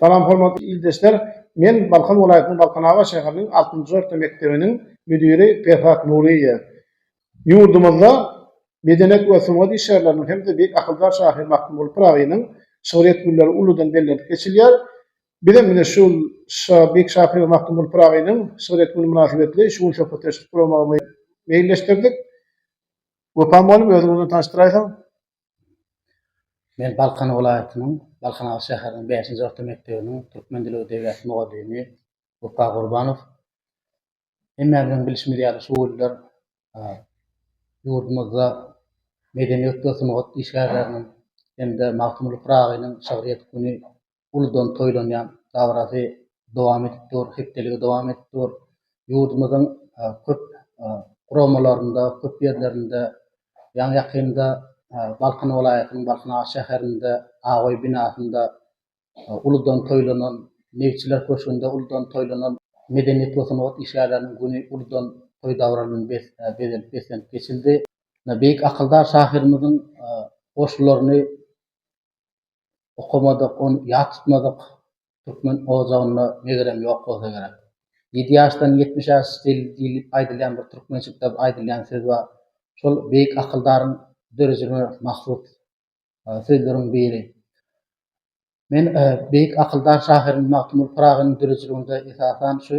Salam hormatly ildeşler! Men Balkan welaýatynyň Balkanabat şäheriniň altynjy orta mekdebiniň müdiri Perhat Nuryýew. Ýurdumyzda medenet we sungat işgärleriniň hem-de beýik akyldar şahyr Magtymguly Pyragynyň şygryýet günleri uludan bellenip geçilýär. Bizem ine şu beýik şahyr Magtymguly Pyragynyň şygryýet güni mynasybetli şu gün söhbetdeşlik guramagy meýilleşdirdik. Wepa mugallym özüňi bilen tanyşdyraýsaň? Men Balkan welaýatynyň Balkanabat şäheriniň bäşinji orta mekdebiniň türkmen dili we edebiýaty mugallymy Wepa Gurbanow. Hemmämiziň bilşimiz ýaly şu günler ýurdumyzda medeniýet we sungat işgärleriniň hem-de Magtymguly Pyragynyň şygryýet güni uludan toýlanýan dabarasy dowam edip dur, hepdeligi dowam edip dur. Ýurdumyzyň köp guramalarynda, köp ýerlerinde, ýaňy-ýakynda Balkan welaýatynyň Balkan Ağa şäherinde Abaý binasynda uludan toýlanan, Meýitçiler köşgünde uludan toýlanan Medeniýet we sungat işgärleriniň güni uludan toý dabara bilen bezelip-beslenip geçildi. Beýik akyldar şahyrymyzyň goşgularyny okamadyk, ony ýat tutmadyk türkmen ojagynda megerem ýok bolsa gerek. Ýedi ýaşdan ýetmiş ýaş deli diýlip aýdylýan bir türkmençilikde aýdylýan söz bar. Şol beýik akyldaryň dörejine mahsus sözleriň biri. Men beýik akyldar şahyryň Magtymguly Pyragynyň dörejiligiňde esasan şu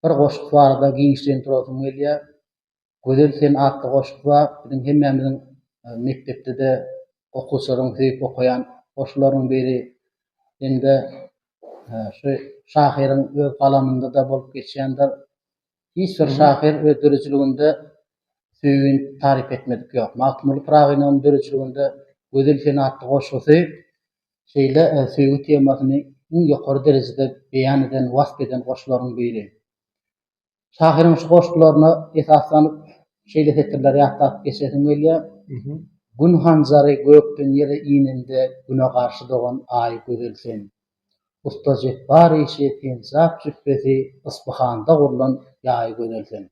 bir goşgy barada giňişleýin durasym gelýär. Gözel sen atly goşgy bar. Biziň hemmämiziň mekdepde-de okuwçylaryň söýüp okaýan goşgularynyň biri. Hem-de şu şahyryň öz galamynda-da bolup geçýändir. Hiç bir şahyr öz döredijiliginde söýgini taryp etmedik ýok. Magtymguly Pyragynyň döredijiliginde Gözel sen atly goşgusy Şeýle söýgi temasyny iň ýokary derejede beýan eden, wasp eden goşgularyň biri. Şahyryň şu goşgularyna esaslanyp, şeýle setirleri ýatlap geçesim gelýär, Gün hanjary gökden ýere inende Güne garşy dogan Aý gözel sen. Usta Jepbar işi Penjap jüpbesi Yspyhanda gurlan Ýaý gözel sen.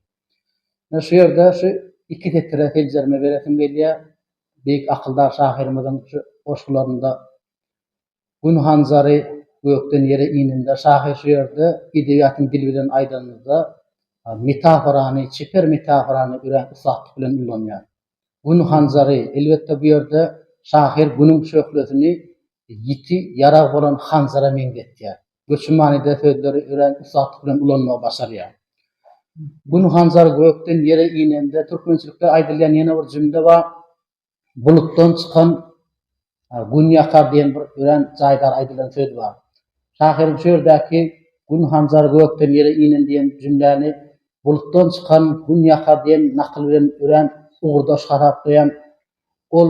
Şu ýerde şu iki setire seljerme beresim gelýär. Beýik akyldar şahyrymyzyň şu goşgularynda Gün hanjary gökden ýere inende şahyr şu ýerde edebiýatyň dili bilen aýdanymyzda metaforany, çeper metaforany örän ussatlyk bilen ullanýar. Gün hanjary, elbetde bu ýerde şahyr Günüň şöhlesini ýiti ýarag bolan hanjara meňzetýär. Göçi manyda sözleri örän ussatlyk bilen ulanmagy başarýar. Gün hanjar gökden ýere inende türkmençilikde aýdylýan ýene bir jümle bar. Bulutdan çykan Gün ýakar diýen bir örän jaýdar aýdylan söz bar. Şahyryň şu ýerdäki Gün hanjar gökden ýere inen diýen jümläni Bulutdan çykan Gün ýakar diýen nakyl bilen örän ugurdaş hasaplaýan Ol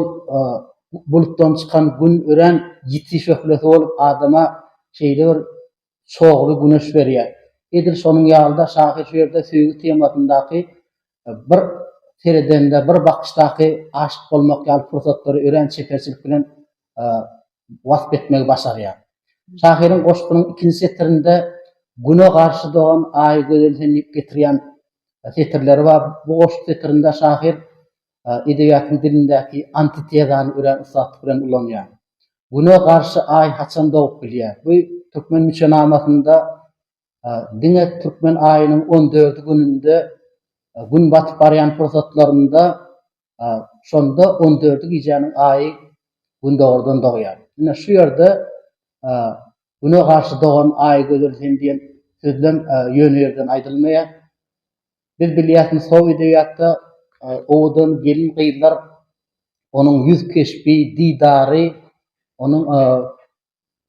bulutdan çykan Gün örän ýiti şöhlesi bolup, adama şeýle bir çogly güneş berýär. Edil şonuň ýaly-da, şahyr şu ýerde söýgi temasyndaky bir seredende, bir bakyşdaky aşyk bolmak ýaly pursatlary örän çeperçilik bilen wasp etmegi başarýar. Şahyryň goşgynyň ikinji setirinde Güne garşy dogan Aýy gözel sen diýip getirýän setirleri bar. Bu goşgy setirinde şahyr edebiýatyň dilindäki antitezany örän ussatlyk bilen ulanýar. Güne garşy Aý haçan dogup bilýär? Bu Türkmen müçenamasynda diňe türkmen aýynyň on dördi gününde Gün batyp barýan pursatlarynda şonda on dördi gijäniň Aýy Gündogardan dogýar. Ine şu ýerde Güne garşy dogan Aý gözel sen diýen sözlem ýöne ýerden aýdylmaýar. Biz bilýäsmi sow edebiýatda owadan gelin gyzlar onuň ýüz keşbi, didary, onuň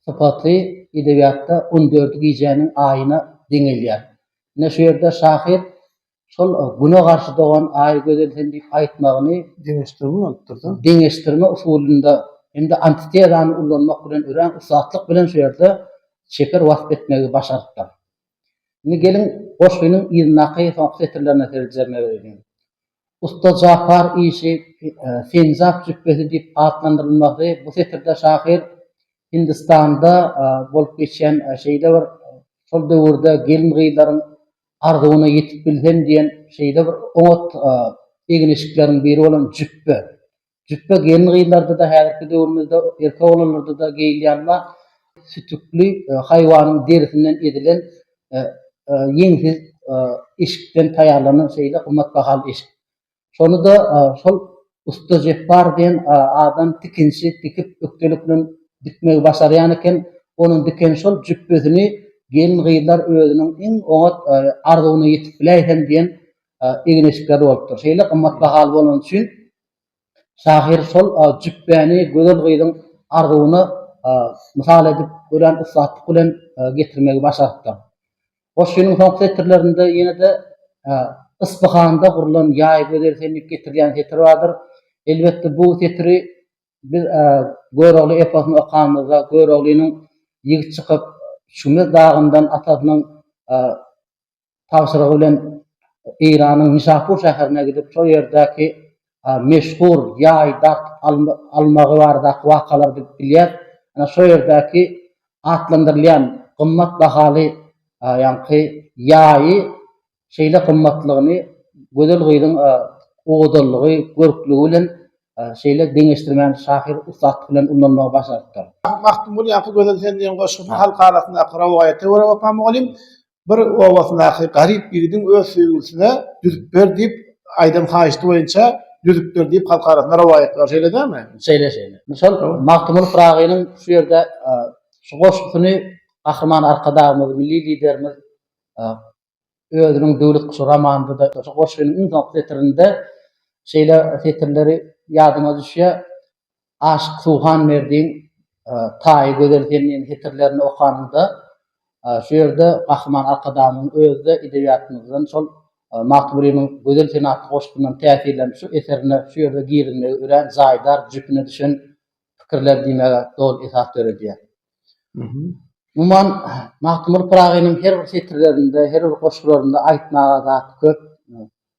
sypaty edebiýatda on dördi gijäniň aýyna deňelýär. Ine şu ýerde şahyr şol güne garşy dogan aýy gözel sen diýip aýtmagyny deňeşdirme bolupdyrda. Deňeşdirme usulynda hem-de antitezany ullanmak bilen örän ussatlyk bilen şu ýerde Çeper wasp etmegi başarypdyr. Indi geliň, goşgynyň yzyndaky soňky setirlerine seljer bereliň. Usta Japar işi Penjap jüpbesi diýip atlandyrylmasy bu setirde şahyr Hindistanda bolup geçýän şeýle bir şol döwürde gelin-gyzlaryň arzuwyna ýetip bilsem diýen şeýle bir oňat egin-eşikleriň biri bolan jüpbe, Jüpbe gelin-gyzlarda-da, häzirki döwrümizde erkek-oglanlarda-da geýilýän we sütükli haýwanyň derisinden edilen ýeňsiz eşikden taýýarlanan şeýle gymmatbahaly eşik. Şony-da şol Usta Jepbar diýen adam tikinçi tikip ökdelik bilen dikmegi başarýan eken. Onuň diken şol jüpbesini gelin-gyzlar özüniň iň oňat arzuwyna ýetip biläýsem diýen egin-eşikleri bolupdyr. Şeýle gymmatbahaly bolany üçin Şahyr şol jübäni gözel gyzyň arzuwyna mysal edip, örän ussatlyk bilen getirmegi başarypdyr. Goşgynyň soňky setirlerinde ýene-de Yspyhanda gurlan ýaý gözel sen diýip getirilýän setir bardyr. Elbetde, bu setiri biz Görogly eposyny okanymyzda, Göroglynyň ýigit çykyp, Şüme dagyndan atasynyň tabşyrygy bilen Eýranyň Nişapur şäherine gidip, şol ýerdäki meşhur ýaý dartyp almagy baradaky wakalar bilip bilýär. Ine, şo ýerdäki atlandyrylýan gymmat bahaly ýaňky ýaýy şeýle gymmatlygyny gözel gyzyň owadanlygy, görklügi bilen şeýle deňeşdirmäni şahyr ussatlyk bilen ullanmagy başarypdyr. Magtymguly ýaňky Gözel sen diýen goşgysyny halk arasyndaky rowaýata görä Wepa mugallym bir obasyndaky garyp ýigidiň öz söýgülisine düzüp ber diýip aýdan haýyşty boýunça düzüp ber diýip halk arasynda rowaýat bar şeýle dälmi? Şeýle şeýle. Indi şol Magtymguly Pyragynyň şu ýerde şu goşgusyny Gahryman Arkadagymyz, Milli Liderimiz özüniň Döwlet guşy romanynda-da şu goşgynyň iň soňky setirinde şeýle setirleri ýadyma düşýär, Aşyk Suhanberdiň Taýy gözel sen diýen setirlerini okanyňda, şu ýerde Gahryman Arkadagymyzyň özi-de edebiýatymyzdan şol Magtymgulynyň Gözel sen atly goşgyndan täsirlenip şu eserine şu ýerde girizmegi örän jaýdar, jüpüne düşen pikirler diýmäge doly esas döredýär. Umuman, Magtymguly Pyragynyň her bir setirlerinde, her bir goşgularynda aýtmaga zat köp.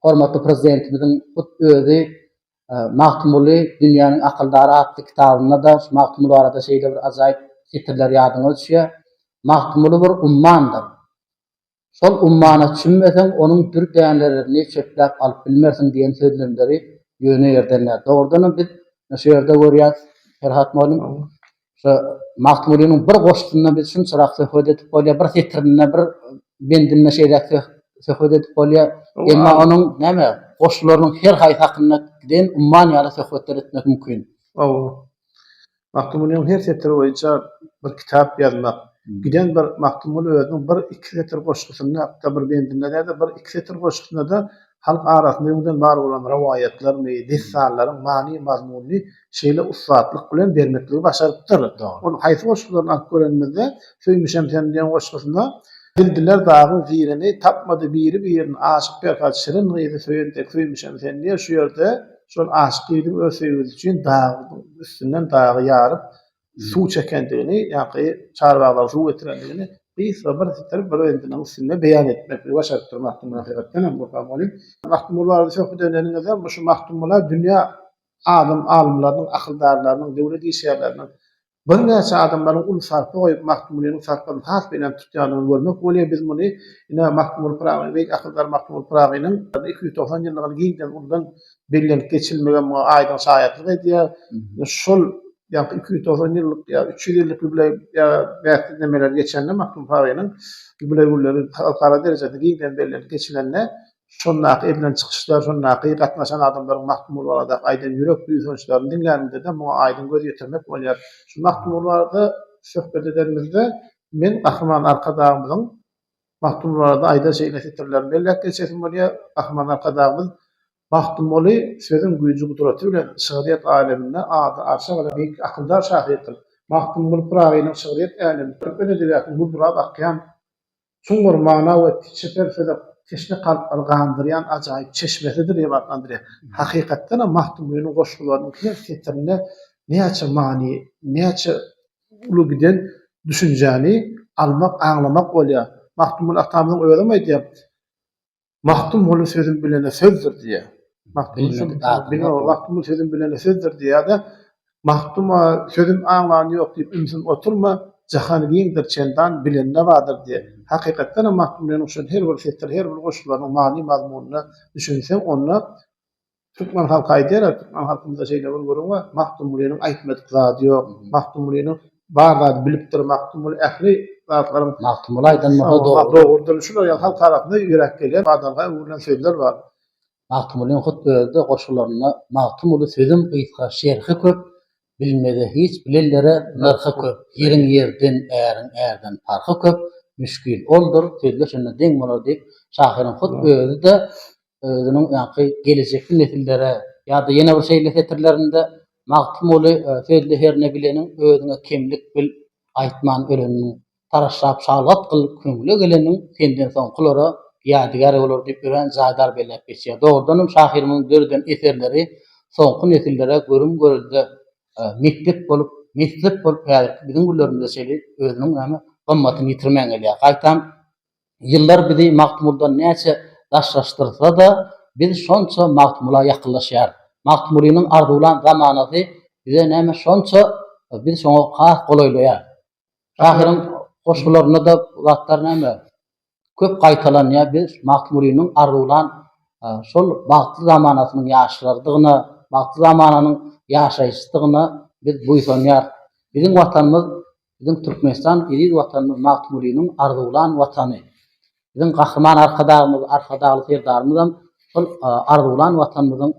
Hormatly Prezidentimiziň hut özi Magtymguly dünýäniň akyldary atly kitabynda-da şu Magtymguly barada şeýle bir ajaýyp setirler ýadyňa düşýär, Magtymguly bir ummandyr. Şol ummana çümmeseň, onuň dür dänelerini çöpläp alyp bilmersiň diýen sözlemleri ýöne ýerden däl. Dogrudanam, biz şu ýerde görýäris, Perhat mugallym, Şu Magtymgulynyň bir goşgusynda biz şunçarak söhbet edip bolýar, bir setirinde, bir bendinde şeýläk söhbet edip bolýar. Emma onuň näme, goşgularynyň her haýsy hakynda giden umman ýaly söhbetler etmek mümkin. Hawa. Magtymgulynyň her setiri boýunça bir kitap ýazmak, giden bir Magtymguly özüniň bir-iki setir goşgusynda, hatda bir bendinde däl-de, bir-iki setir goşgusynda-da Halk arasynda öňden bar bolan rowaýatlaryny, dessallaryň many-mazmunyny şeýle ussatlyk bilen bermekligi başarypdyr. Ol haýsy goşgularyny alyp görenimizde, Söýmüşem seni diýen goşgusynda, Bildiler dagyň zirini, tapmady biri-birini, Aşyk Perhat şirin gyzy söýen dek söýmüşem seni diýýär. Şu ýerde şol aşyk gyzyň öz söýgüsi üçin dagyň üstünden dagy ýaryp, suw çekendigini, ýa-da çarwaglara suw getirendigini gysga bir sitir brendiniň üstünde beýan etmek başaryp dur Magtymguly hakykatdan hem Gurbanguly. Magtymguly barada söhbet edeniňizde bu şu Magtymgula dünýä adam alymlarynyň, akyldarlarynyň, döwlet işgärleriniň birnäçe adamlaryň uly sarpa goýup Magtymgulynyň sarpasyny has belent tutýandygyny görmek bolýar. Biz muny ine Magtymguly Pyragy beýik akyldar Magtymguly Pyragynyň iki ýüz togsan ýyllygyny giňden uludan bellenip geçilmegi muňa aýdyň şaýatlyk edýär. Şol ýa-da iki ýüz togsan ýyllyk ýa-da üç ýüz ýyllyk ýubileý bäsleşmeleri geçende Magtym Paýynyň ýubileý günleri halkara derejede giňden bellenip geçilende şondaky edilen çykyşlar, şondaky gatnaşan adamlaryň Magtymguly baradaky aýdan ýürek buýsançlaryny diňlänimizde-de muňa aýdyň göz ýetirmek bolýar. Şu Magtymguly barada söhbet edenimizde men Gahryman Arkadagymyzyň Magtymguly barada aýdan şeýle setirlerini belläp geçesim bolýar, Gahryman Arkadagymyz Magtymguly sözüň güýji-gudraty bilen şygryýet aleminde ady arşa baran beýik akyldar şahyrdyr. Magtymguly Pyragynyň şygryýet älemi türkmen edebiýatyny gurrap akýan çuňňur mana we çeper söze teşne kalplary gandyrýan ajaýyp çeşmesidir diýip atlandyrýar. Hakykatdanam, Magtymgulynyň goşgularynyň her setirinde näçe many, näçe uly giden düşünjäni almak, aňlamak bolýar. Magtymguly atamyzyň özem aýdýar, Magtymguly sözüm bilene sözdür diýýär. Magtymguly sözüm bilene sözdür diýýär-de, Magtym-a, sözüm aňlany ýok diýip ümsüm oturma, jahan giňdir çendan, bilende bardyr diýýär. Hakykatdanam Magtymgulynyň şol her bir setiri, her bir goşgularynyň many-mazmunyna düşünseň, onda Türkmen halky aýdýar-a, türkmen halkymyzda şeýle bir gürrüň bar, Magtymgulynyň aýtmadyk zady ýok. Magtymgulynyň bar zady bilipdir. Magtymguly ähli zatlaryň Magtymguly aýdan bolsa dogrudyr. Dogrudyr. Şular ýaly halk arasynda ýürek gelýän, badalga öwrülen sözler bar. Magtymgulynyň hut özi-de goşgularynda Magtymguly sözüm gysga, şerhi köp, Bilmeze hiç bilenlere nyrhy köp. Ýeriň ýerden, äriň ärden parhy köp, Müşgil oldur, sözleşende deň bolar diýip, şahyryň hut özi-de özüniň ýaňky gelejekki nesillere ýa-da ýene bir şeýle setirlerinde Magtymguly sözli herne bileniň özüňe kemlik bil aýtman ölenini taraşlap şalgat gyl köňle geleniň senden soňkulara ýadygär bolar diýip örän jaýdar belläp geçýär. Dogrudanam şahyrymyzyň döreden eserleri soňky nesillere görüm-görelde mekdep bolup, meslek bolup häzirki biziň günlerimizde şeýle özüniň näme gymmatyny ýitirmän gelýär. Gaýtam Ýyllar bizi Magtymguldan näçe daşlaşdyrsa-da, biz şonça Magtymgula ýakynlaşýarys. Magtymgulynyň arzuwlan zamanasy bize näme şonça, biz şoňa has golaýlaýarys. Şahyryň goşgularynda-da bu zatlar näme, köp gaýtalanýar. Biz Magtymgulynyň arzuwlan şol bagtly zamanasynyň ýaşlarydygyna, bagtly zamananyň ýaşaýjysydygyna biz buýsanýarys. Biziň Watanymyz Biziň Türkmenistan eziz Watanymyz Magtymgulynyň arzuwlan Watany. Biziň Gahryman Arkadagymyz, Arkadagly Serdarymyzam şol arzuwlan Watanymyzyň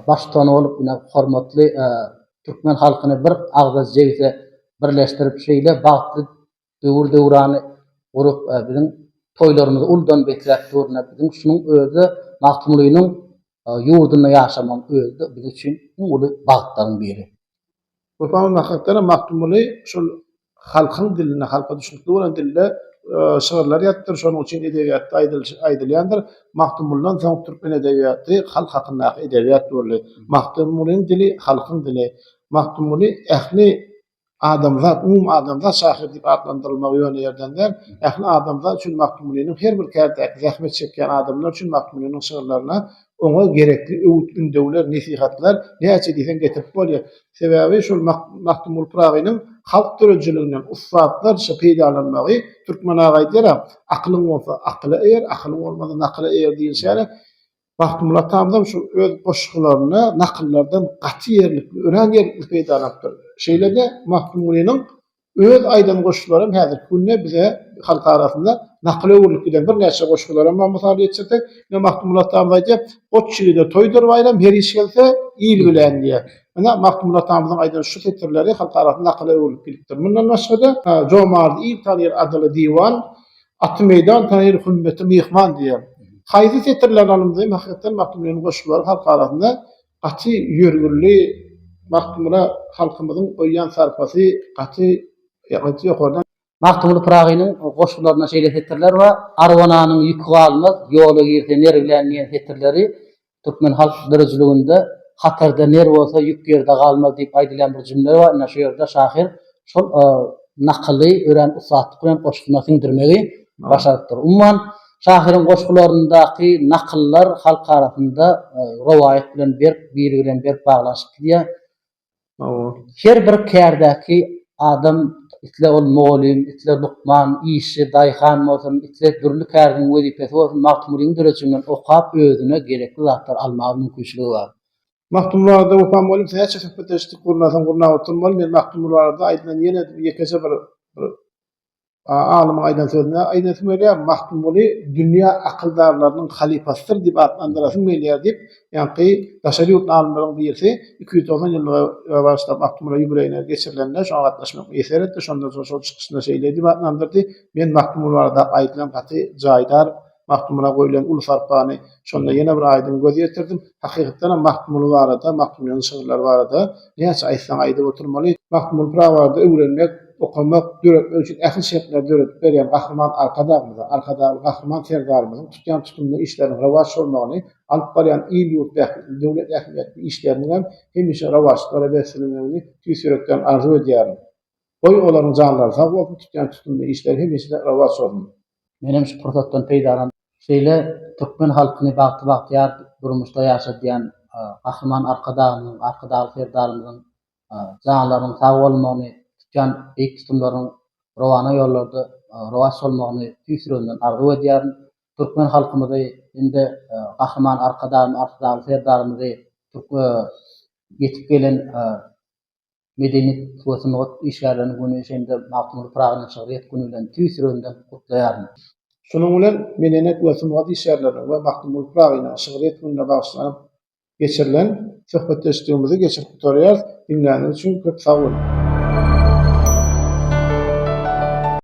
baştutany bolup, ine, hormatly türkmen halkyny bir agza jebise birleşdirip, şeýle bagtly döwür-döwrany gurup, biziň toýlarymyzy uludan besläp dur-da, biziň şunuň özi Magtymgulynyň ýurdunda ýaşamagyň özi-de biz üçin iň uly bagtlaryň biri. Bu soňundan hakykatdanam Magtymguly şol halkyň dilinde, halka düşnükli bolan dilde şygyrlar ýazypdyr, şonuň üçin edebiýatda aýdylýandyr, Magtymguldan soň türkmen edebiýaty halk hakyndaky edebiýat boldy. Magtymgulyň dili halkyň dili. Magtymguly ähli adamzat, umumy adamzat şahyry diýip atlandyrylmagy ýöne ýerden däl. Ähli adamzat üçin Magtymgulynyň her bir kärdeäki zähmet çekýän adamlar üçin Magtymgulynyň şygyrlaryna oňa gerekli öwüt-ündewler, nesihatlar näçe diýseň getirip bolýar. Sebäbi şol Magtymguly Pyragynyň halk döredijiliginden ussatlarça peýdalanmagy, türkmen aga aýdýar-a, Akylyň bolsa akyla eýer, akylyň bolmasa nakyla eýer diýlişi ýaly, Magtymguly atamyzam şu öz goşgularynda nakyllardan gaty ýerlikli, örän ýerlikli peýdalanypdyr. Şeýle-de Magtymgulynyň Öz aýdan goşgularym häzirki günde bize halk arasynda nakyla öwrülip giden birnäçe goşgularam bar. Mysal getirsek, ine Magtymguly atamyz aýdýar, Goç ýigide toýdur baýram, her iş gelse, il bilen diýýär. Ine, Magtymguly atamyzyň aýdan şu setirleri halk arasynda nakyla öwrülip gidipdir. Mundan başga-da, Jomardy il tanyr adyly diwan, Aty meýdan tanyr hümmeti myhman diýýär. Haýsy setirlerini alymyzam hakykatdan Magtymgulynyň goşgulary halk arasynda Gaty ýörgünli Magtymgula halkymyzyň goýýan sarpasy gaty ýokardan. Magtymguly Pyragynyň goşgularynda şeýle setirler bar, Arwananyň ýüki galmaz, ýola girse ner bilen diýen setirleri türkmen halk dirijiliginde Hatarda ner bolsa ýük ýerde galmaz diýip aýdylýan bir jümle bar, ine şu ýerde şahyr şol nakyly örän ussatlyk bilen goşgyna siňdirmegi başarypdyr. Umuman, Şahyryň goşgularyndaky nakyllar halk arasynda rowaýat bilen berk, biri bilen berk baglanyşyp gidýär. Her bir kärdäki adam, isle ol mugallym, isle lukman, işçi, daýhan bolsun, isle dürli käriniň wezipesi bolsun, Magtymgulynyň döredijignden okap, özüne gerekli zatlary almaga mümkinçiligi bar. Magtymguly barada Wepa mugallym bilen näçe söhbetleşdik, gurnasaň gurnap oturmaly. Men Magtymguly barada aýdylan ýene ýekeje bir Alymyň aýdan sözüne aýdasyň gelýär, Magtymguly dünýä akyldarlarynyň halypasydyr diýip atlandyrasyň gelýär diýip, ýaňky daşary ýurtly alymlaryň birisi iki ýüz togsan ýyllygy bagyşlap Magtymgula ýubileýine geçirilende şoňa gatnaşmak eser etdi, şondan soň şol çykyşynda şeýle diýip atlandyrdy, Men Magtymguly barada aýdylan gaty jaýdar Magtymgula goýlan uly sarpany şonda ýene bir aýdyň göz ýetirdim. Hakykatdanam Magtymguly barada, Magtymgulynyň şygyrlary barada näçe aýtsaň aýdyp oturmaly. Magtymguly Pyragybardy öwrenmek, okamak, döretmek üçin ähli şertleri döredip berýän Gahryman Arkadagymyzyň, Arkadagly Gahryman Serdarymyzyň tutýan tutumly işleriniň rowaç bolmagyny, alyp barýan il-ýurt bähbitli, döwlet ähmiýetli işleriniňem hemişe rowaçlyklara beslenmegini tüýs ýürekden arzuw edýärin. Goý, olaryň janlary sag bolsun, tutýan tutumly işleri hemişe-de rowaç bolsun! Menem şu pursatdan peýdalanyp, şeýle türkmen halkyny bagty-bagtyýar durmuşda ýaşadýan Gahryman Arkadagymyzyň, Arkadagly Serdarymyzyň janlarynyň sag bolmagyny, tutýan beýik tutumlarynyň rowana ýollarda rowaç bolmagyny tüýs ýüregimden arzuw edýärin. Türkmen halkymyzy hem-de Gahryman Arkadagymyzy, Arkadagly Serdarymyzy ýetip gelen Medeniýet we sungat işgärleriniň güni hem-de Magtymguly Pyragynyň şygryýet güni bilen tüýs ýüregimden gutlaýaryn. Şunuň bilen Medeniýet we sungat işgärleriniň we Magtymguly Pyragynyň şygryýet gününe bagyşlanyp geçirilen söhbetdeşligimizi geçirip gutarýarys. Diňläniňiz üçin köp sag boluň!